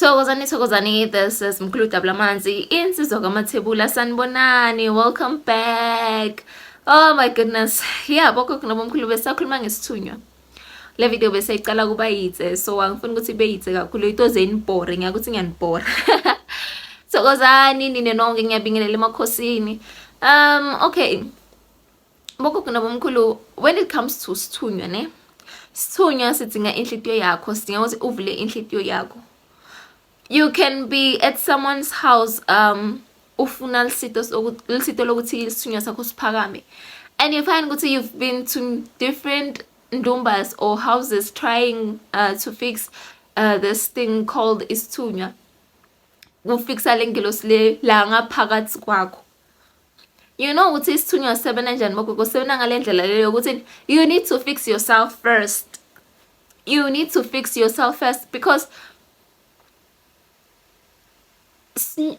Thokozani thokozani this is Mkhulu Dabulamanzi insizwa kamathebula sanibonani welcome back oh my goodness yeah boko kunobomkhulu besakhuluma ngesithunywa le video bese icala kuba yitse so angifuni ukuthi ibe yitse kakhulu into zenibhore ngiyakuthi ngiyanibhora thokozani nine nonke ngiyabingelela emakhosini um okay Bogogo nabomkhulu, when it comes to sithunywa ne sithunywa sidinga inhlitiyo yakho sidinga ukuthi uvule inhlitiyo yakho you can be at someone's house um ufuna lisito lisito lokuthi isithunywa sakho siphakame and you find ukuthi you've been to different ndumbas or houses trying uh, to fix uh, this thing called isithunywa kufikisa lengelosi le la ngaphakathi kwakho you know ukuthi isithunywa sisebenza njani bogogo sisebenza ngale ndlela leyo yokuthi you need to fix yourself first you need to fix yourself first because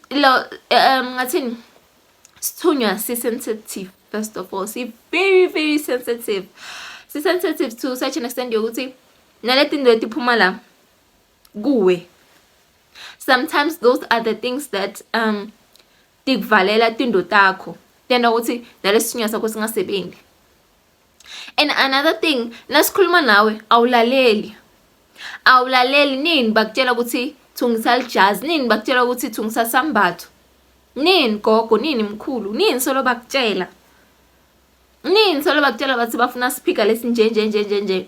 lo um ngathini sithunywa si-sensitive first of all si-very very sensitive si-sensitive to such an extent yokuthi nale tinto etiphuma la kuwe sometimes those are the things that um tikuvalela tindlu takho tenta ukuthi nalesithunywa sakho singasebenzi and another thing nasikhuluma nawe awulaleli awulaleli nini bakutshela ukuthi thungisa lijazi nini bakutshela ukuthi thungisa sambatho nini gogo nini mkhulu nini solo bakutshela nini solo bakutshela bathi bafuna siphika lesinjenjenjenjenje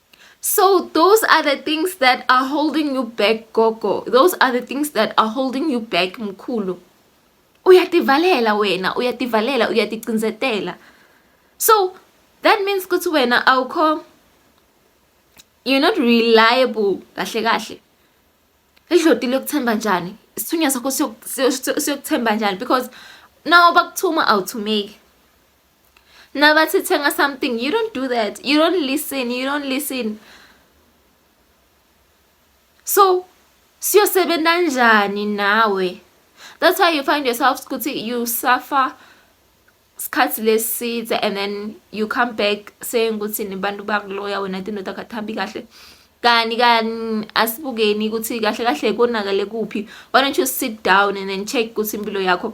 So those are the things that are holding you back gogo. Those are the things that are holding you back mkhulu. Uyativalela wena, uyativalela, uyaticinzetela. So that means ukuthi wena awukho you're not reliable kahle kahle. Idloti lokuthemba njani? Isithunywa sakho siyokuthemba njani because now bakuthuma awuthumeki. nabathi thenga something you don't do that you don't listen you don't listen so siyosebenza njani nawe that's why you find yourself ukuthi you suffer sikhathi leside and then you come back saying ukuthi nibantu bakuloya wena tinto takathambi kahle kani kani asibukeni ukuthi kahle kahle konakale kuphi why don't you sit down and then check ukuthi impilo yakho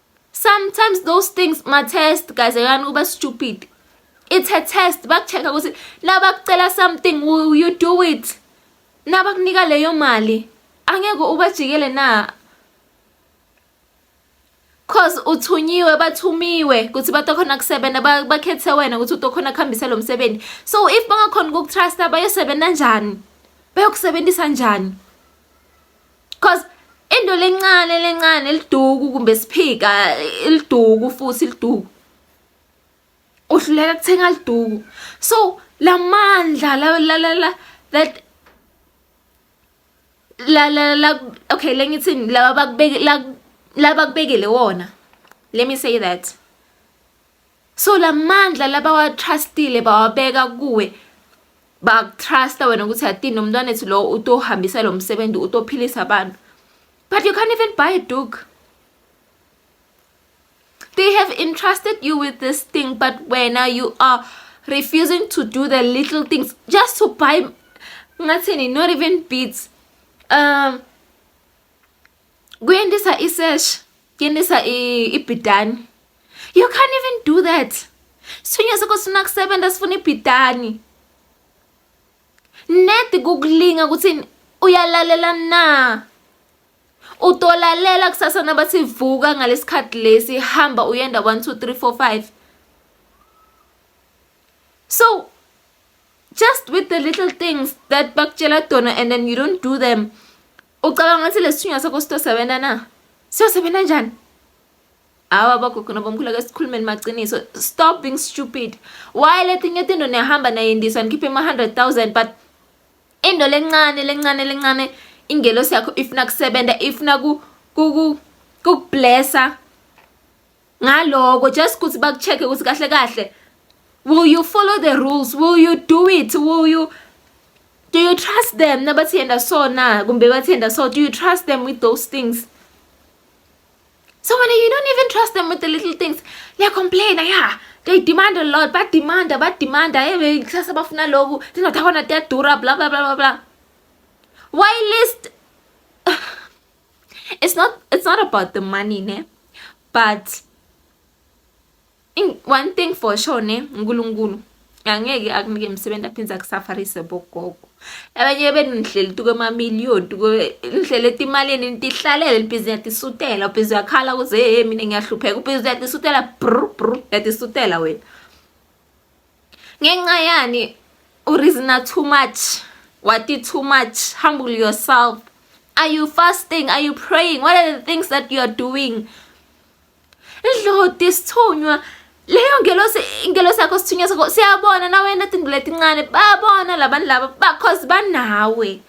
sometimes those things ma test guys ayani kuba stupid it's a test bakucheck ukuthi nabakucela something will you do it nabakunika leyo mali angeke ubajikele na cause uthunyiwe bathumiwe ukuthi batokhona kusebenza bakhethe wena ukuthi utokhona kuhambisa lo msebenzi so if bangakhona ukukutrusta bayosebenza njani bayokusebenzisa njani cause into lencane lencane liduku kumbe siphika liduku futhi liduku uhluleka kuthenga liduku so lamandla la la la la that la la la okay lengithini laba bakubeke la bakubekele wona let me say that so lamandla labawatrustile bawabeka kuwe bakutrusta wena ukuthi atini nomntwana ethu lowo utohambisa lo msebenzi utophilisa abantu but you can't even buy a dog they have entrusted you with this thing but wena you are refusing to do the little things just to buy ngathini not even beats um kuyendisa isesh kuyendisa ibhidani you can't even do that sithunywa sakho sifuna kusebenza sifuna ibhidani nedi kukulinga ukuthi uyalalela na utolalela kusasa nabathi vuka ngalesikhathi lesi hamba uyenda 1 2 3 4 5 so just with the little things that bakutshela dona and then you don't do them Ucabanga ukuthi lesithunywa sakho sitosebenza na? Siyosebenza njani? Hawa bagogo nabomkhulu ake sikhulumeni maciniso. Stop being stupid. Why letinye tinto niyahamba nayendiswa nikhiphe ma 100,000 but into lencane lencane lencane ingelosi yakho ifuna kusebenza ifuna ku ku kublessa ngaloko just ukuthi bakucheck ukuthi kahle kahle will you follow the rules will you do it will you do you trust them nabathi yenda so na kumbe bathi yenda so do you trust them with those things so when you don't even trust them with the little things they complain yeah they demand a lot but demand but demand hey kusasa bafuna lokhu ndingathi akona tiyadura bla bla bla bla bla why list it's not it's not about the money ne but in, one thing for sure ne uNkulunkulu angeke akunike imisebenzi aphinde akusafarise bogogo abanye benu nihleli tuke ama million tuke nihleli etimalini nitihlalele libhizi yatisutela ubhizi yakhala kuze hey mina ngiyahlupheka ubhizi yatisutela brr brr yatisutela wena ngenxa yani u reasoner too much wati too much humble yourself are you fasting are you praying what are the things that you are doing idloti sithunywa leyo ngelosi ingelosi yakho sithunywa sakho siyabona nawe netinto letincane babona labantu laba because banawe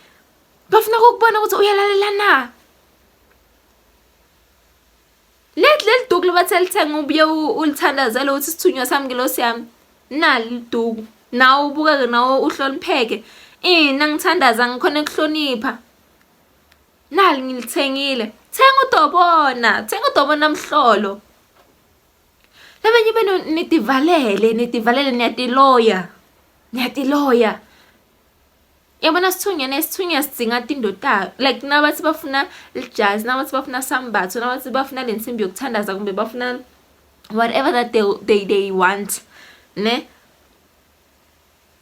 bafuna ukubona ukuthi uyalalela na Let leli duku libathe lithenga ubuye ulithandazele ukuthi sithunywa sami ngilosi yami nali liduku nawe ubukeke nawe uhlonipheke ina ngithandaza ngikhona ekuhlonipha nali ngilithengile thenga udobona thenga udobona mhlolo labanye benu nidivalele nidivalele niyatiloya niyatiloya yabona sithunywa nesithunywa sidzinga tindotayo like nabathi bafuna lijazi nabathi bafuna sambatho nabathi bafuna le nsimbi yokuthandaza kumbe bafuna whatever that they, they, they want ne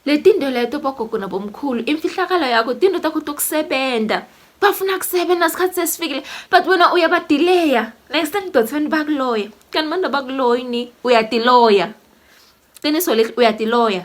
le tindo leto bogogo nabomkhulu imfihlakalo yakho tindo takho tokusebenza bafuna kusebenza sikhathi sesifikile but wena uyabadileya next time dot abantu bakuloya kanti abantu abakuloyi ni uyadiloya qiniso leli uyadiloya